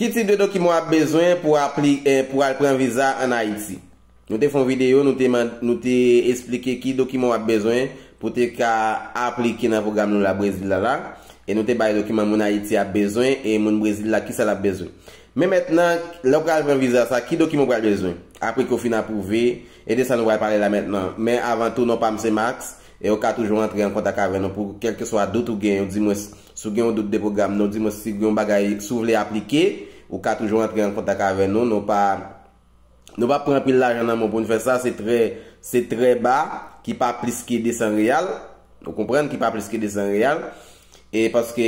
Ki tip de dokiman w ap bezwen pou w al pran viza an Ayiti? Nou te fè yon videyo, nou te esplike ki dokiman w ap bezwen pou te ka aplike nan pwogram nou la Brezil la la. E nou te bay dokiman moun Ayiti ap bezwen e moun Brezil la kisa l ap bezwen. Men mentnan, lè w pral pran viza sa, ki dokiman w pral bezwen? Apre ke w fin apwouve, e de sa nou pral pale la mentnan. Men avan tou, non pa m se Max, e ou ka toujou antre an kontak avè nou pou kèlkeswa dout ou gen, oudimwens Si w gen yon dout de pwogram nan, ou di mwen si gen yon bagay, si w vle aplike, ou ka toujou antre an kontak avè nou. Nou pa Nou pa pran anpil lajan nan men w pou n fè sa, se trè se trè ba ki pa plis ke 200 reyal, ou konprann, ki pa plis ke 200 reyal. E paske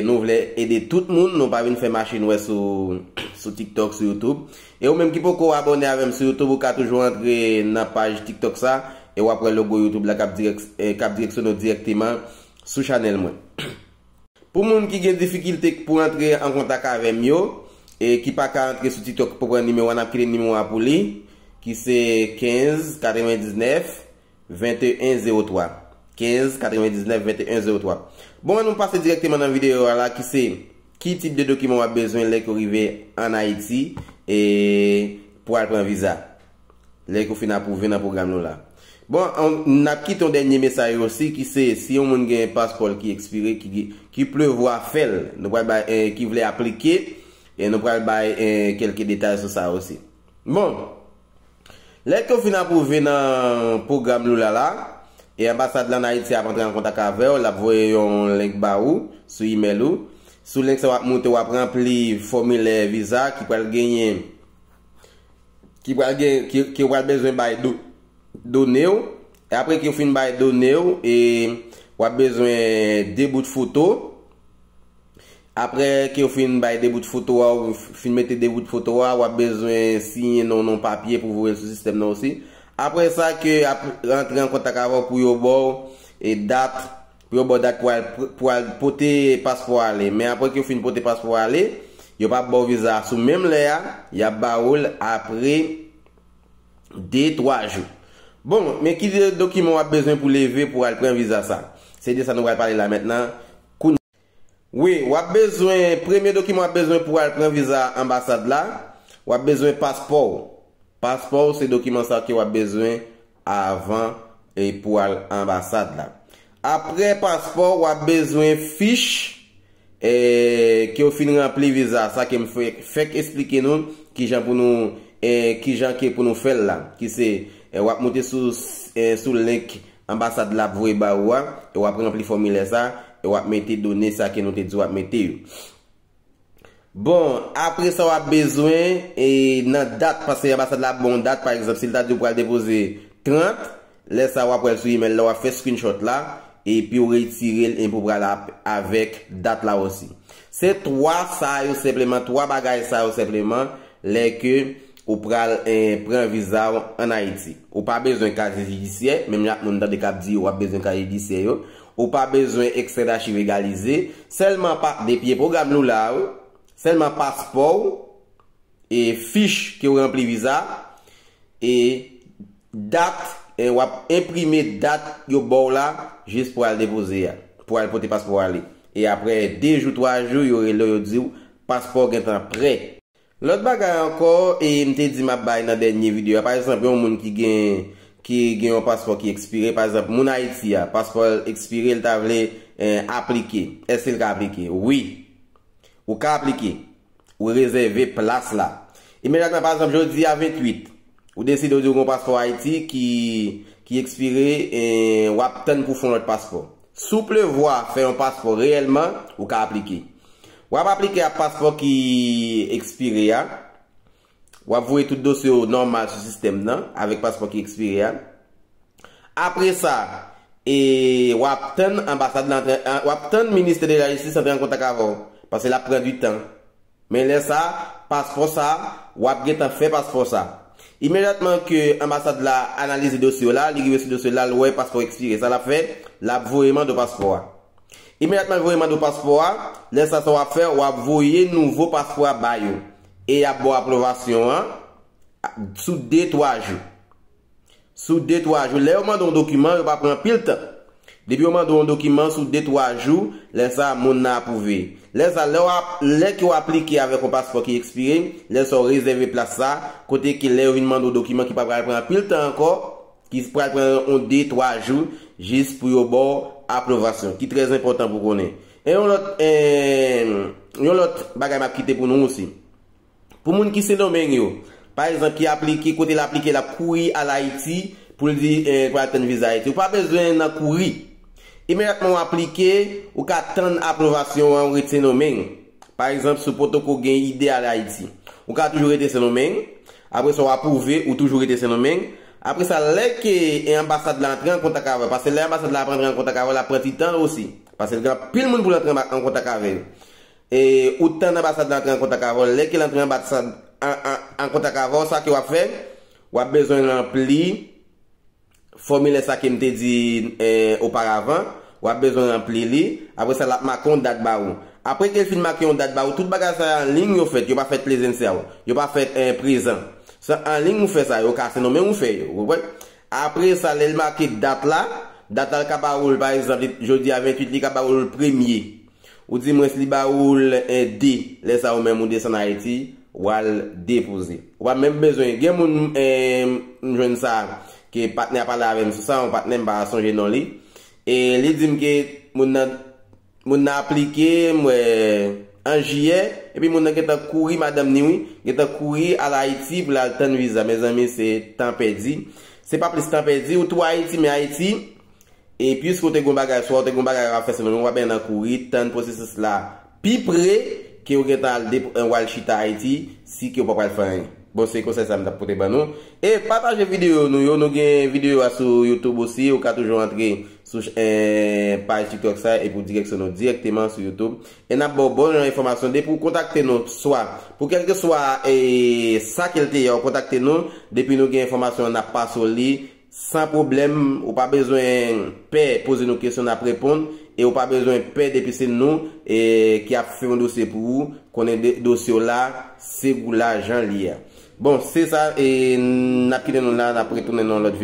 nou vle ede tout moun, nou pa vin fè mache nwè sou sou TikTok, sou YouTube. E ou menm ki poko abòne avè m sou YouTube, ou ka toujou antre nan paj TikTok sa e w ap wè logo YouTube la k ap dirèk k ap direksyone w dirèkteman sou chanel mwen pou moun ki gen difikilte pou antre an kontak avem yo e ki paka antre sou tiktok pou pran nimewo a nap kite nimewo a pou li ki se 15 99 21 03 15 99 21 03 bon an nou pase direkteman nan videyo a la ki se ki tip de dokiman wap bezwen lè ke w rive an ayiti e pou al pran viza. Lè ke w fin apwouve nan pwogram nou la. Bon, n ap kite yon dènye mesay osi ki se si yon moun gen paspò l ki ekspire ki gen, ki prevwa fè l, nou pral bay, ki vle aplike, e nou pral bay kèlke detay sou sa osi. Bon, lè ke w fin apwouve nan pwogram nou la la, e anbasad la an Ayiti ap antre an kontak avè w, l ap voye yon link ba ou sou imèl ou. Sou link sa w ap moute, w ap ranpli fòmilè viza ki pral genyen ki pral gen ke ou pral bezwen bay done ou e apre ke ou fin bay done ou e wap bezwen 2 bout foto apre ke ou fin bay 2 bout foto a ou fin mete 2 bout foto a wap bezwen siyen non non papye pou voye l sou sistèm nan osi apre sa ke ap rantre an kontak avè w pou yo baw e dat Yo ba w dat pou al pou al pote paspò a ale. Men apre ke yo fin pote paspò a ale, yo pa ap ba w viza a sou menm lè a, y ap ba ou l apre de, twa jou. Bon, men ki dokiman w ap bezwen pou leve pou al pran viza sa. Se de sa nou pral pale la mentnan. Kounye. Wi, w ap bezwen, premye dokiman w ap bezwen pou al pran viza anbasad la, w ap bezwen paspò w. Paspò w se dokiman sa ke w ap bezwen avan pou al anbasad la. Apre paspò wap bezwen fich kew fin ranpli viza sa kem fèk esplike nou kijan pou nou kijan ke pou nou fèl la ki se wap moute sou link anbasad la ap voye ba ou a e wap ranpli fòmilè sa e wap mete done sa ke nou te di wap mete yo. Bon apre sa wap bezwen e nan dat paske anbasad la ap ba w yon dat pa egzanp si l ta di w pral depoze 30 lè sa wap wè l sou email la wap fè screenshot la epi w retire l enpi w pral ap avèk dat la osi se 3 sa yo senpleman 3 bagay sa yo senpleman lè ke ou pral pran viza w an Ayiti ou pa bezwen kaziye jidisyè menm jan ak moun tande kap di yo wap bezwen kaziye jidisyè yo. Ou pa bezwen ekstrè dachiv egalize, sèlman pa depi e pwogram Lula a wi, sèlman paspò w e fich ke w ranpli viza e dat e w ap enprime dat yo ba w la jis pou al depoze a, pou al pote paspò ale e aprè 2 jou 3 jou yo rele w yo di w paspò w gentan prè. Lòt bagay ankò e m te di m ap bay nan dènye videyo a, pa egzanp yon moun ki gen ki gen yon paspò ki ekspire, pa egzanp moun Ayiti a, paspò l ekspire l ta vle aplike, èske l ka aplike? Wi! Ou ka aplike. Ou rezève plas la. Imedyatman, pa egzanp jodi a 28, ou deside ou di ou gen yon paspò Ayiti ki ki ekspire e w ap tann pou w fè yon lòt paspò. Si w prevwa fè yon paspò reyèlman, ou ka aplike. W ap aplike a paspò ki ekspire a. W ap voye tout dosye w nòmal sou sistèm nan avèk paspò ki ekspire a. Apre sa, w ap tann anbasad lan, w ap tann ministè de la jistis antre an kontak avè w, paske l ap pran di tan. Men lè sa, paspò sa, w ap gentan fè paspò sa. Imedyatman ke anbasad la analize dosye w la, li rive sou dosye w la, l wè paspò ekspire. Sa l ap fè, l ap voye mande w paspò a. Imedyatman l voye mande w paspò a, lè sa sa w ap fè, w ap voye nouvo paspò a ba yo. E y ap ba w apwovasyon an sou de twa jou. sou de twa jou. Lè yo mande w yon dokiman, yo pa pran anpil tan. Depi yo mande w yon dokiman sou de twa jou, lè sa a moun nan apwouve. Lè sa a, lè w ap, lè ke w aplike avèk yon paspò ki ekspire, lè sa a w rezève plas sa a, kote ke lè yo vin mande w dokiman ki pa pral pran anpil tan ankò, ki pral pran yon de twa jou jis pou yo ba w apwovasyon, ki trè enpòtan pou w konnen. E yon lòt, yon lòt bagay m ap kite pou nou osi. Pou moun ki Sendomeng yo, pa egzanp, ki aplike, kote l aplike l ap kouri al Ayiti pou l di l pral tann viza Ayiti. Ou pa bezwen nan kouri. Imedyatman ou aplike, ou ka tann apwovasyon an ou ret Sendomeng. Pa egzanp, si w potoko gen ide al Ayiti, ou ka toujou rete Sendomeng. Apre sa w apwouve, ou toujou rete Sendomeng. Apre sa, lè ke anbasad la antre an kontak avè w, paske lè anbasad la ap antre an kontak avè w, l ap pran ti tan l osi, paske l gen anpil moun pou l antre an kontak avè yo. E ou tann anbasad la antre an kontak avè w. Lè ke l antre anbasad an kontak avè w, sa ke w ap fè, w ap bezwen ranpli fòmilè sa ke m te di oparavan. W ap bezwen ranpli li. Apre sa, l ap make yon dat ba ou. Apre ke l fin make yon dat ba ou, tout bagay sa yo anliy yo fèt. Yo pa fèt plezensèl. Yo pa fèt prezan. Se anliy ou fè sa yo. Ou ka se nou menm ou fè yo. Ou konprann? Apre sa, lè l make dat la, dat la l ka ba ou l, pa egzanp, jodi a 28, li ka ba ou l premye. Ou di mwens li ba ou l di lè sa ou menm ou desann Ayiti wal depoze. Ou pa menm bezwen gen moun m jwenn sa ke patnè a pale avè m sou sa yon patnè m pa sonje non li e li di m ke moun nan moun nan aplike m wè an jiyè epi moun nan gentan kouri madanm ni wi gentan kouri al Ayiti pou l al tann viza mezanmi se tan pèdi se pa plis tan pèdi ou tou Ayiti men Ayiti E puiske ou te gen yon bagay, swa ou te gen yon bagay wap fè sèlman, men wap nan kouri tann pwosesis la pi pre ke ou gentan al dep ou al chita Ayiti si ke ou pa pral fè anyen. Bon se konsèy sa m tap pote ban nou. E pataje videyo nou yo, nou gen videyo a sou YouTube osi, ou ka toujou antre sou paj tiktok sa epi ou direksyon nou dirèkteman sou YouTube. E nap baw bon jan enfòmasyon depi ou kontakte nou swa pou kèlkeswa sa ke l te ye ou kontakte nou depi nou gen enfòmasyon an nap pase w li San pwoblèm, ou pa bezwen pè poze nou kesyon nap reponn e ou pa bezwen pè depi se nou ki ap fè yon dosye pou ou, konnen dosye w la se gou la jan li a. Bon, se sa e nap kite nou la nap retounen nan yon lòt videyo.